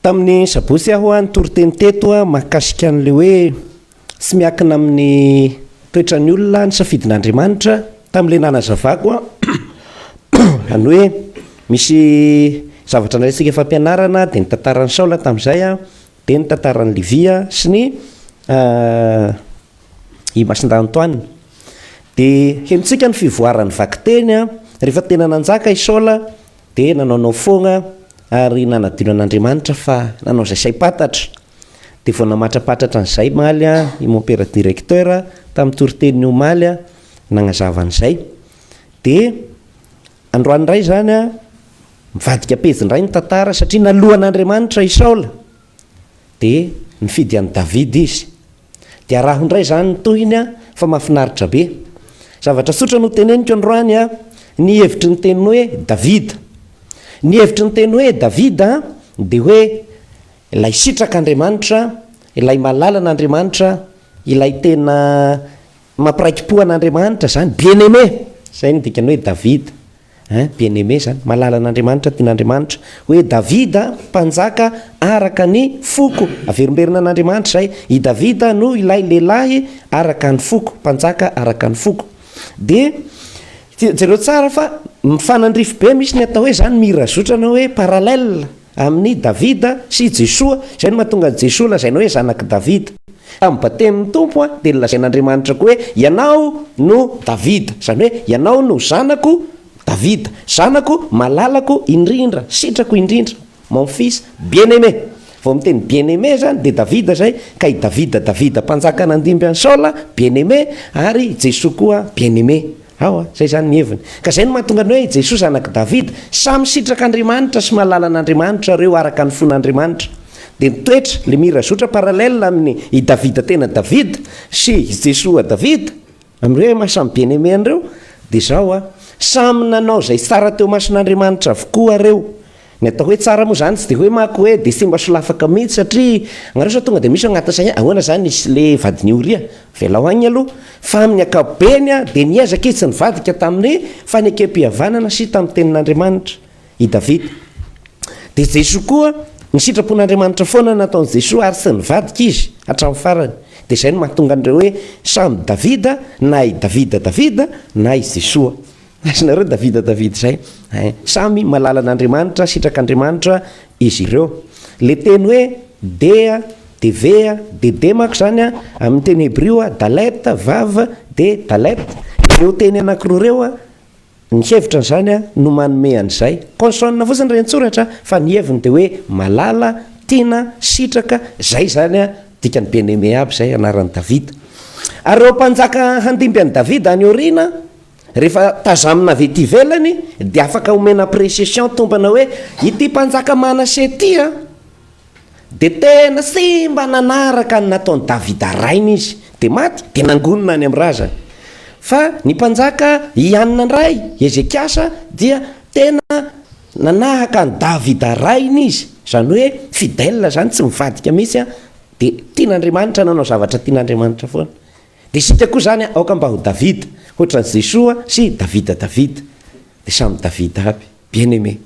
Tamin'ny sabotsy aho nitory teny teto mahakasika an'ilay hoe tsy miankina amin'ny toetran'ny olona ny safidin'Andriamanitra tamin'ilay nanazavako izany hoe misy zavatra nalaintsika fampianarana dia ny tantaran'i Saola tamin'izay an, dia ny tantaran'i Levy an, sy ny Imasindanitoanina. Dia henontsika ny fivoaran'ny vakiteny an, rehefa tena nanjaka i Saola Dia nanaonao foagna ary nanadino an'Andriamanitra fa nanao izay saim-pantatra. Dia vao namatrapatratra an'izay maly i Mompera Directeur tamin'ny toriteniny omaly nagnazava an'izay. Dia androany indray izany mivadika pejy indray ny tantara satria naloa an'Andriamanitra i Saola dia nifidy an'i Davida izy. Dia araho indray izany ny tohiny a, fa mahafinaritra be. Zavatra tsotra no teneniko androany a, ny hevitry ny teny hoe Davida. Ny hevitry ny teny hoe Davida dia hoe ilay sitrak'Andriamanitra, ilay malalan'Andriamanitra, ilay tena Mampiraikipo an'Andriamanitra zany, bien-aimé, zay no dikany hoe David ein, bien-aimé zany, mahalala an'Andriamanitra, tian'Andriamanitra, hoe David mpanjaka araka ny foko, averimberina an'Andriamanitra zay, i David no ilay lehilahy araka ny foko, mpanjaka araka ny foko. Dia jereo tsara fa mifanandrify be, misy ny atao hoe zany mirazotra na hoe parallèle, Amin'i Davida sy i Jesoa, izay no mahatonga an'i Jesoa lazaina hoe zanak'i Davida. Tamin'ny Batemin'ny Tompo dia nolazain'Andriamanitra koa hoe, Ianao no Davida, izany hoe Ianao no Zanako Davida, Zanako malalako indrindra, sitrako indrindra, Mon fils bien-aimé. Vao miteny bien-aimé izany dia Davida izay, ka i Davida, Davida mpanjaka nandimby an'i Saola, bien-aimé, ary i Jesoa koa bien-aimé. Ao a! Zay zany ny heviny. Ka zay no mahatonga ny hoe i Jesoa zanak'i Davida. Samy sitraka Andriamanitra sy mahalala an'Andriamanitra ireo araka ny fon'Andriamanitra. Dia ny toetra, le mirazotra parallèle amin'ny i Davida tena Davida sy i Jesoa Davida, amin'ny hoe maha samy bien-aimé an'ireo, dia zao a! Samy nanao zay tsara teo mason'Andriamanitra avokoa ireo. Ny atao hoe tsara moa izany tsy dia hoe mako hoe dia simba solafaka mihitsy satria nareo sao tonga dia misy ao anaty saina hoe ahoana izany izy sy le vadin'i Oria? Avelao agny aloha fa amin'ny ankapobeny dia niezaka izy tsy nivadika tamin'ny fanekempihavanana sy tamin'ny tenin'Andriamanitra i Davida. Dia Jesoa koa ny sitrapon'Andriamanitra foana no nataon'i Jesoa ary tsy nivadika izy hatramin'ny farany. Dia izay no mahatonga an'ireo hoe samy Davida na i Davida Davida na i Jesoa. Aiza nareo Davida Davida zay hein. Samy malalan Andriamanitra sitrak Andriamanitra izy ireo. Le teny hoe dea, devea, dedea manko zany a amin teny hebrio a dalet vav de dalet ireo teny anakiroa ireo a ny hevitra an zany a no manome an zay. Consonne fotsiny re ny tsoratra fa ny heviny de hoe malala, tiana, sitraka, zay zany a dikany bien aime aby zay anaran Davida. Ary ireo mpanjaka handimby an Davida any aoriana, Rehefa tazamina avy ety ivelany dia afaka omena appreciation tompana hoe ity mpanjaka Manase ity an dia tena tsy mba nanaraka ny nataon'i Davida rainy izy dia maty dia nangonina any amin'ny razany. Fa ny mpanjaka Iana indray, Hezekiasa, dia tena nanahaka an'i Davida rainy izy, izany hoe fidèle izany, tsy mivadika mihitsy an, dia tian'Andriamanitra, nanao zavatra tian'Andriamanitra foana. Dia isika koa izany an, aoka mba ho Davida, hoatran'i Jesoa sy i Davida Davida. Dia samy Davida aby. Bien aimé.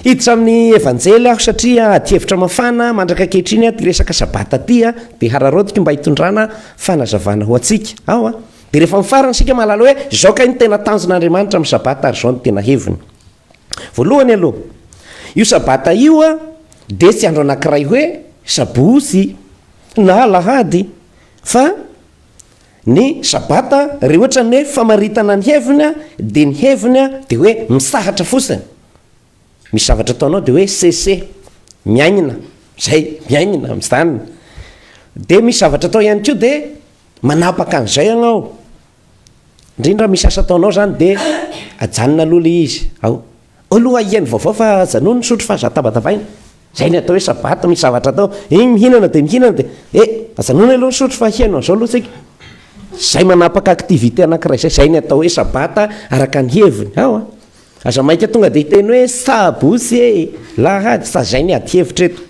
Hiditra amin'ny Evanjely aho satria adihevitra mafana mandraka ankehitriny aty resaka Sabata aty an, dia hararaotiko mba hitondrana fanazavana ho antsika ao an. Dia rehefa mifarana isika mahalala hoe izao kay no tena tanjon'Andriamanitra amin'ny Sabata ary izao no tena heviny. Voalohany aloha, io Sabata io dia tsy andro anankiray hoe Sabotsy na Alahady fa ny Sabata re ohatra ny hoe famaritana ny heviny dia ny heviny dia hoe misahatra fotsiny, misy zavatra ataonao dia hoe cesse, miaingna, zay, miaingna, mijanona. Dia misy zavatra atao ihany koa dia manapaka an'izay ianao. Indrindra misy asa ataonao zany de ajanona aloha le izy ao aloha ahiany vaovao fa ajanony misotro fa za tabatavaina zay ny atao hoe sabata misy zavatra atao iny mihinana de mihinana de e ajanony aloha misotro fa ahiany amzao aloha tsika zay manapaka activité anakiray zay zay ny atao hoe sabata araka ny heviny ao a aza maika tonga de hiteny hoe sabosy e lahady fa zay ny ady hevitra eto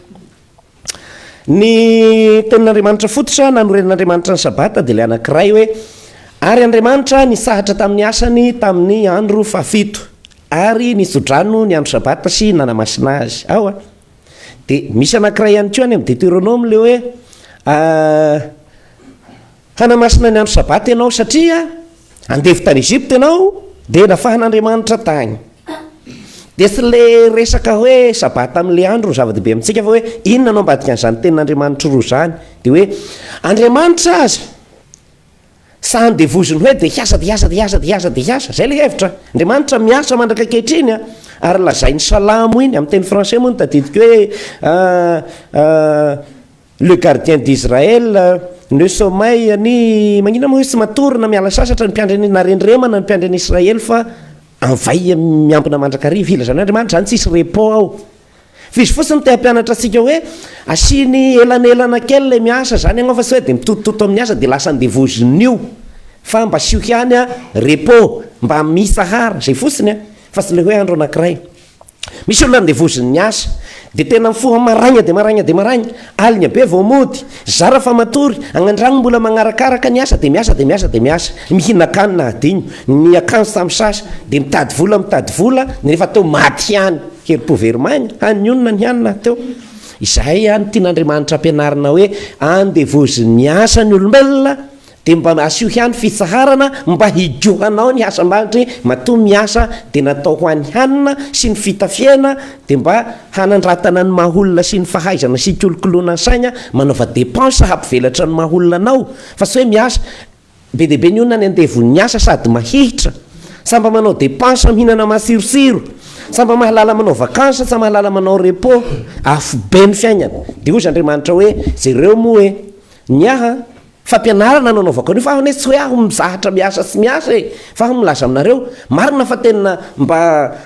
Ny Tenin'Andriamanitra fototra nanorenan'Andriamanitra ny Sabata dia ilay anankiray hoe, Ary Andriamanitra nisahatra tamin'ny asany tamin'ny andro fahafito, ary nitso-drano ny andro Sabata sy nanamasina azy. Ao a. Dia misy anankiray ihany koa any amin'ny Deteronoma ilay hoe, Hanamasina ny andro Sabata ianao, satria andevo tany Egypta ianao, dia nafahan'Andriamanitra tany. Dia tsy ilay resaka hoe Sabata amin'ilay andro no zava-dehibe amintsika, fa hoe inona no ambadikan'izany tenin'Andriamanitra roa izany. Dia hoe Andriamanitra aza tsy handevoziny hoe dia hiasa, dia hiasa, dia hiasa, dia hiasa, dia hiasa. Izay ilay hevitra. Andriamanitra miasa mandrak'ankehitriny an! Ary lazain'ny Salamo iny, amin'ny teny français moa no tadidiko hoe, Le gardien d'Israël ne sommeille ani magnina moa izy tsy matory na miala sasatra ny mpiandry an'i na rendremana ny mpiandry an'i Israely fa anvay miambina mandrakariva ilazan' Andriamanitra zany tsisy repos ao fa izy fotsiny te hampianatra antsika hoe asiany elanelana kely le miasa zany ianao fa tsy hoe de mitotototo amin'ny asa de lasa andevozin'io fa mba asio ihany an repos mba mitsahara zay fotsiny an fa tsy le hoe andro anankiray Misy olona andevozin'ny asa dia tena mifoha maraina dia maraina dia maraina, aligna be vao mody, zara fa matory, agny andrano mbola magnarakaraka ny asa dia miasa dia miasa dia miasa, mihinakanina hadino, ny akanjo tamin'ny sasa dia mitady vola mitady vola nefa teo maty ihany, herim-po very maina, hany ny onona ny hanina teo. Izahay ihany tian'Andriamanitra ampianarina hoe andevozin'ny asa ny olombelona Dia mba asio ihany fitsaharana mba hijohanao ny asa ambanitre matoa miasa dia natao ho an'ny hanina sy ny fitafiana dia mba hanandratana ny maha olona sy ny fahaizana sy hikolokoloana ny saina manaova depense hampivelatra ny maha olona anao fa tsy hoe miasa be dia be ny olona any andevon'ny asa sady mahihitra sa mba manao depense mihinana matsirotsiro sa mba mahalala manao vacances sa mahalala manao repos afobe ny fiainana dia hoy zandriamanitra hoe jereo moa hoe ny ahy Fampianarana no anaovako an'io fa aho anie tsy hoe aho mizahatra miasa sy miasa e! Fa aho milaza aminareo, marina fa tena mba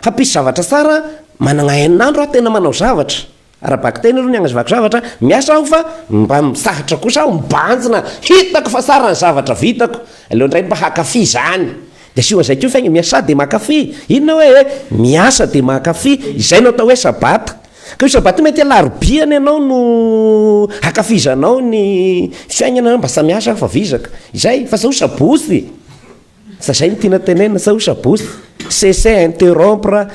hampisy zavatra tsara, managna en'andro aho tena manao zavatra, ara-bakiteny aloha ny agnazavako zavatra, miasa aho fa mba misahatra kosa aho, mibanjina, hitako fa tsara ny zavatra vitako, aleo ndray mba hakafy izany, de asio an'izay koa fa aigna, miasa de mankafy, inona hoe e! miasa de mankafy, izay no atao hoe sabata. Ka io Sabata io mety alarobia any ianao no hakafizanao ny fiaignana na mba samy asa fa vizaka izay fa zao Sabotsy fa zay no tiana tenenina zao Sabotsy cesser interrompre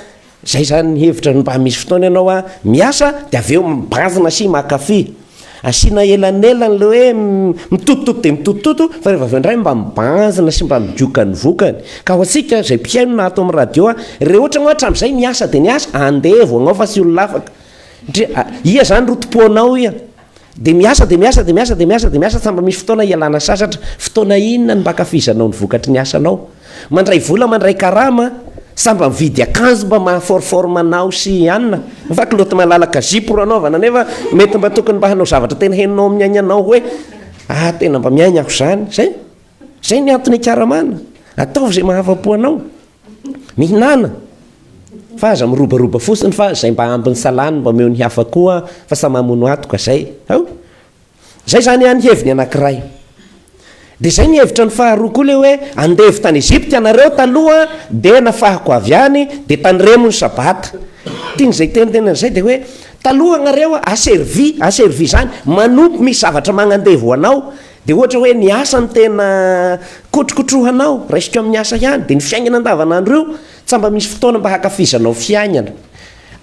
zay zany ny hevitra mba misy fotoana ianao a miasa de avy eo mibanjina sy makafy Asiana elanelany ilay hoe mitotototo dia mitotototo fa rehefa avy eo indray mba mibanjina sy mba midioka ny vokany. Ka ho antsika izay mpihaino na ato amin'ny radio ary, rehefa ohatra ianao hatramin'izay niasa dia niasa, andevo agnao fa tsy olona afaka. Satria ia izany rotompoanao ia? Dia miasa dia miasa dia miasa dia miasa dia miasa tsy mba misy fotoana hialana sasatra. Fotoana inona no mba ankafizanao ny vokatry ny asanao? Mandray vola mandray karama sa mba mividy akanjo mba maha for forme anao sy i Anna fa kilaoty malalaka zipo ro anaovana nefa mety mba tokony mba hanao zavatra tena henonao amin'ny aignanao hoe ah tena mba miaigna aho zany zay zay ny antony ikaramana ataovy zay mahafapo anao mihinana fa aza mirobaroba fotsiny fa zay mba ambiny salany mba omeo ny hafa koa fa sa mamono atoka zay ao Izay izany any heviny anankiray. Dia izay ny hevitra ny faharoa koa le hoe andevo tany Egypte ianareo taloha dia nafahako avy any dia tandremo ny sabata. Tiany izay teny teny an'izay dia hoe taloha ianareo aservi aservi izany manompo misy zavatra magnandevo ho anao dia ohatra hoe ny asa no tena kotrokotrohanao raisiko amin'ny asa ihany dia ny fiainana andavanandro io tsa mba misy fotoana mba hakafizanao fiainana.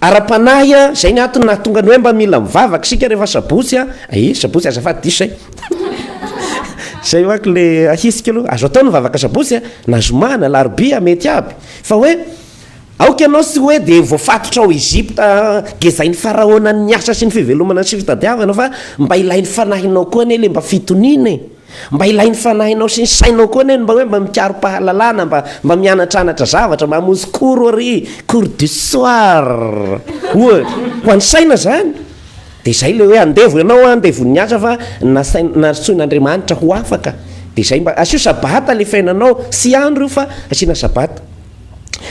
Ara-panahy a! Zay ny antony nahatonga ny hoe mba mila mivavaka isika rehefa sabotsy a! Ee sabotsy azafady diso zay! Zay manko le ahitsiko aloha, azo atao ny mivavaka sabotsy a! Na zoma, na alarobia, mety aby! Fa hoe aoka ianao tsy hoe dia voafatotra ao Egypta gezain'i Faraona ny asa sy ny fivelomana sy fitadiavana fa mba ilain'ny fanahinao koa anie le mba fitoniana e! Mba ilain'ny fanahinao sy ny sainao koa anie ny mba hoe mba mikaro-pahalalana, mba mba mianatranatra zavatra, mba hamonjy cours ary, cours du soir, ohatra. Ho an'ny saina izany. Dia izay ilay hoe andevo ianao an, andevo ny asa fa nasain-, nantsoin'Andriamanitra ho afaka. Dia izay mba, asio sabata ilay fiainanao, tsy andro io fa asiana sabata.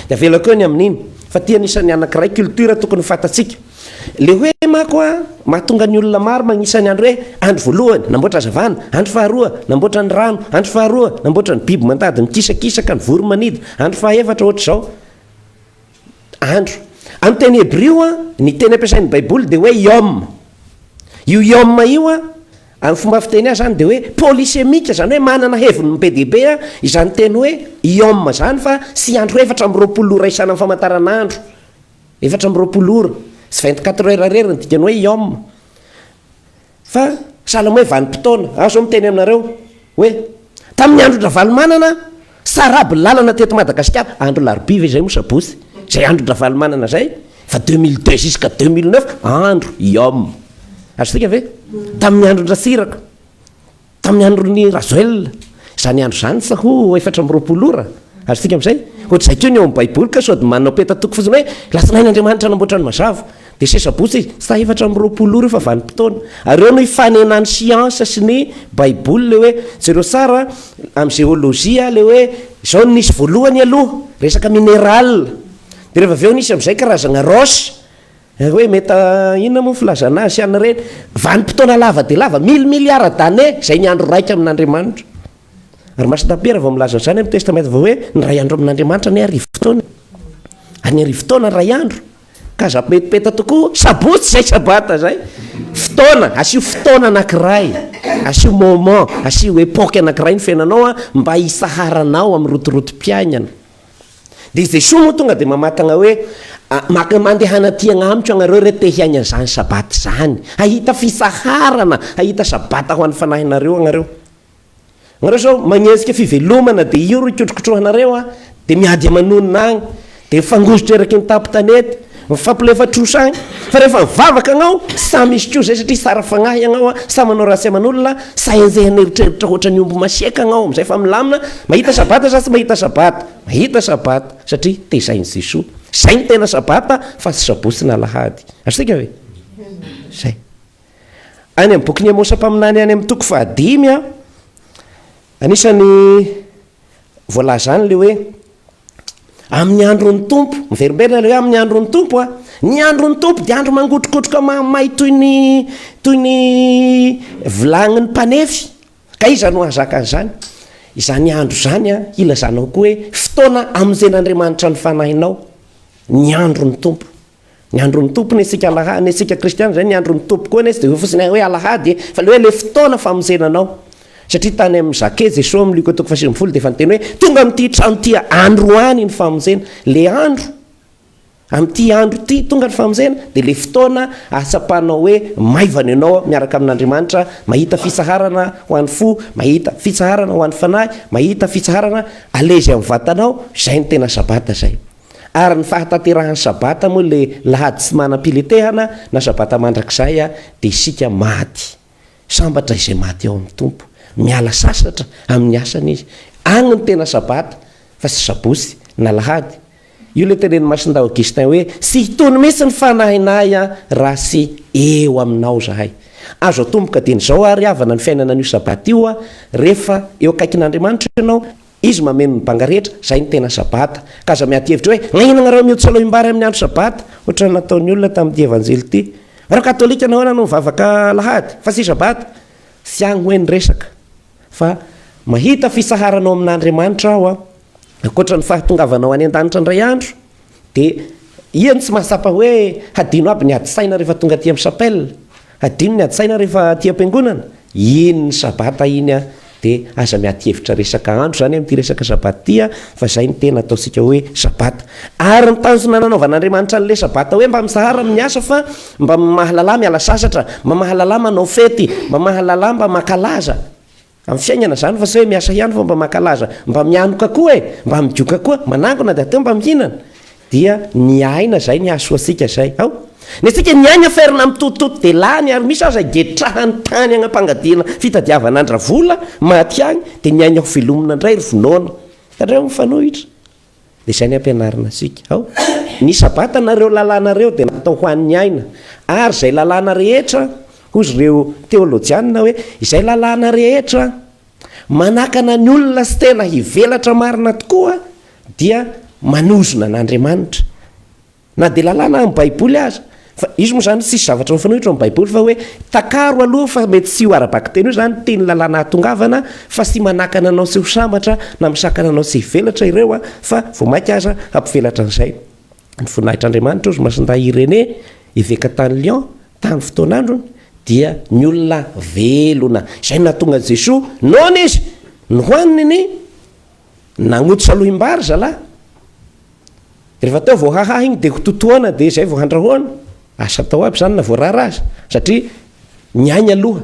Dia avelako eo ny amin'iny. Fa ity anisan'ny anakiray culture tokony fantatsika. Le hoe mako a, mahatonga ny olona maro magnisa ny andro hoe, andro voalohany, namboatra hazavana, andro faharoa, namboatra ny rano, andro faharoa, namboatra ny biby mandady mikisakisaka, ny vory manidy, andro fahaefatra, ohatra izao. Andro. Amin'ny teny hebrio a, ny teny ampiasain'ny baiboly dia hoe yom. Io yom io a, amin'ny fomba fiteny azy izany dia hoe polysémique, izany hoe manana heviny be dia be izany teny hoe yom izany fa tsy andro efatra amby roapolo no iraisana amin'ny famataranandro. Efatra amby roapolo ora, sy vingt quatre heures irery ny dikan'ny hoe yom. Fa sahala amin'ny hoe vanim-potoana. Aho izao miteny aminareo hoe tamin'ny andron-dRavalomanana saraby ny lalana teto Madagasikara, andro larobia ve izay moa sabotsy, izay andron-dRavalomanana izay, fa deux mille deux jusqu'à deux mille neuf andro yom. Azontsika ve? Tamin'ny andron-dRatsiraka. Tamin'ny andron'i Rajoel, izany andro izany sa ho efatra amby roapolo ora? Azontsika amin'izay? Ohatr'izay koa ny ao amin'ny Baiboly ka sao dia manao peta-toko fotsiny hoe lasinainy Andriamanitra nanamboatra ny mazava, dia sesy sabotsy izy, sa efatra amby roapolo ora io fa vanim-potoana? Ary eo no ifanenan'ny siansa sy ny Baiboly ilay hoe, jereo tsara amin'ny jeolojia ilay hoe izao no nisy voalohany aloha, resaka mineral, dia rehefa avy eo nisy amin'izay karazagna roche, Ary hoe meta inona moa ny filazana azy sy an'ireny vanim-potoana lava dia lava mille milliards d'années izay ny andro raika amin'Andriamanitra. Ary Masina Piera vao milaza an'izany amin'ny Testamenta Vaovao hoe ny iray andro amin'Andriamanitra ny arivo taona. Ary ny arivo taona ny iray andro. Ka aza petipeta tokoa, sabotsy izay sabata izay. Fotoana, asio fotoana anankiray, asio moment, asio époque anankiray ny fiainanao mba hitsaharanao amin'ny rotorotom-piainana. Dia Jesoa moa tonga dia mamakagna hoe, maka mandehana aty agnamiko agnareo re te hiaigna an'izany sabata izany, hahita fitsaharana, hahita sabata ho an'ny fanahinareo agnareo. Nareo izao magnenjika fivelomana dia io ro hikotrokotrohanareo an, dia miady aman'onona agny, dia mifangozitra eraky ny tampon-tanety, Mifampilefa trosa any fa rehefa mivavaka agnao sa misy koa zay satria sara fagnahy agnao a, sa manao raha tsy aman'olona, sa henjehana eritreritra ohatran'ny omby masiaka agnao amizay fa milamina, mahita sabata sa tsy mahita sabata, mahita sabata satria tezain'i Jesoa, zay no tena sabata fa tsy sabotsy na alahady, azontsika ve? Zay. Any amin'ny bokin'i Amosa mpaminany any amin'ny toko fahadimy a, anisan'ny voalaza any le hoe amin'ny andron'ny tompo miverimberina le hoe amin'ny andron'ny tompo a ny andron'ny tompo dia andro mangotrokotroka mahamay toy ny toy ny vilagnin'ny mpanefy ka iza no hahazaka an'izany izany andro izany a ilazanao koa hoe fotoana amonjen'andriamanitra ny fanahinao ny andron'ny tompo Ny andron'ny Tompo ny antsika alahady, ny antsika kristiana izay ny andron'ny Tompo koa nezy dia hoe fotsiny hoe alahady e, fa le hoe le fotoana famonjena anao. Satria tany amin'ny Jacques, Jesoa amin'ny Luc toko fahasivy folo dia efa niteny hoe tonga amin'ity trano ity androany ny famonjena. Le andro, amin'ity andro ity tonga ny famonjena, dia le fotoana ahatsapanao hoe maivana ianao miaraka amin'Andriamanitra, mahita fitsaharana ho an'ny fo, mahita fitsaharana ho an'ny fanahy, mahita fitsaharana, alezy amin'ny vatanao, izay ny tena sabata izay. Ary ny fahatanterahan'ny Sabata moa ilay lahady tsy manam-piletehana na Sabata mandrakizay dia isika maty. Sambatra izay maty ao amin'ny Tompo. Miala sasatra amin'ny asany izy. Any no tena Sabata fa tsy Sabotsy na Lahady. Io ilay tenenin'i Masindahy Augustin hoe, tsy hitony mihitsy ny fanahinahy raha tsy eo aminao izahay. Azo atomboka dieny izao ary havana ny fiainana an'io Sabata io rehefa eo akaikin'Andriamanitra ianao Izy mameno ny banga rehetra, izay no tena Sabata. Ka aza miady hevitra hoe, Nahiana anareo mihotso aloim-bary amin'ny andro Sabata, ohatra ny nataon'ny olona tamin'ity Evanjely ity. Nareo Katolika nahoana no mivavaka Alahady, fa tsy Sabata? Tsy agny hoe ny resaka, fa mahita fisaharana ao amin'Andriamanitra aho, ankoatra ny fahatongavanao any an-danitra indray andro. Dia iany tsy mahatsapa hoe hadino aby ny ady saina rehefa tonga aty amin'ny chapelle, hadino ny ady saina rehefa aty am-piangonana, iny ny sabata iny an, dia aza miady hevitra resaka andro izany amin'ity resaka sabata ity an, fa izay no tena ataontsika hoe sabata. Ary ny tanjona nanaovan'Andriamanitra an'ilay sabata hoe mba misahara amin'ny asa fa mba mahalala miala sasatra, mba mahalala manao fety, mba mahalala mba mankalaza. Amin'ny fiainana izany fa sao hoe miasa ihany fa mba mankalaza, mba mianoka koa e, mba midioka koa, manangona dia ateo mba mihinana, dia ny aina izay ny hahasoantsika izay, ao? Ny antsika ny aina ferina mitotitoto dia lany ary misy aza getrahany tany hanam-pangadiana fitadiavana an-dRavola maty any dia ny aina hovelomina indray ry vinoana, hitanareo mifanohitra? Dia izay ny ampianarina antsika ao. Ny Sabata na ireo lalàna ireo dia natao ho an'ny aina, ary izay lalàna rehetra, hozy ireo teolojianina hoe, izay lalàna rehetra manakana ny olona tsy tena hivelatra marina tokoa dia manozona an'Andriamanitra. Na dia lalàna amin'ny Baiboly aza. Fa izy moa izany tsisy zavatra mifanohitra amin'ny Baiboly fa hoe takaro aloha fa mety tsy ho ara-bakiteny eo izany teny lalàna ahatongavana fa tsy manakana anao tsy ho sambatra na misakana anao tsy hivelatra ireo an, fa vao mainka aza hampivelatra an'izay ny voninahitr'Andriamanitra hoy Masindahy Irénée eveka tany Lyon tany fotoan'androny dia ny olona velona izay no nahatonga an'i Jesoa noana izy nohaniny ny Nagnotosa lohim-bary zalahy. Rehefa teo vao hahaha iny dia hototoana dia izay vao handrahoana. Asa atao aby izany na voarara aza. Satria ny ainy aloha.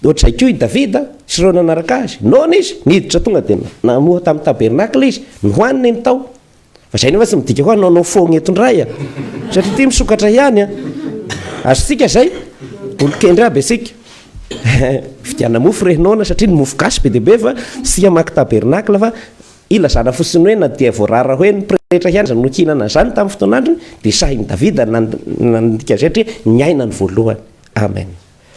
Ohatr'izay koa i Davida sy ireo nanaraka azy. Noana izy, niditra tonga dia namoha tamin'ny tabernakla izy. Nohaniny ny tao. Fa izay nefa tsy midika hoe hanao nao foagna eto indray a! Satria ity misokatra ihany a! Azontsika izay? Olon-kendry aby isika. Vidiana mofo re noana satria ny mofo gasy be dia be fa tsy hamaky tabernacle fa ilazana fotsiny hoe na dia voarara hoe ny pretra ihany aza no nihinana an'izany tamin'ny fotoan'androny dia sahin'i Davida nandika an'izay satria niaina ny voalohany. Amen.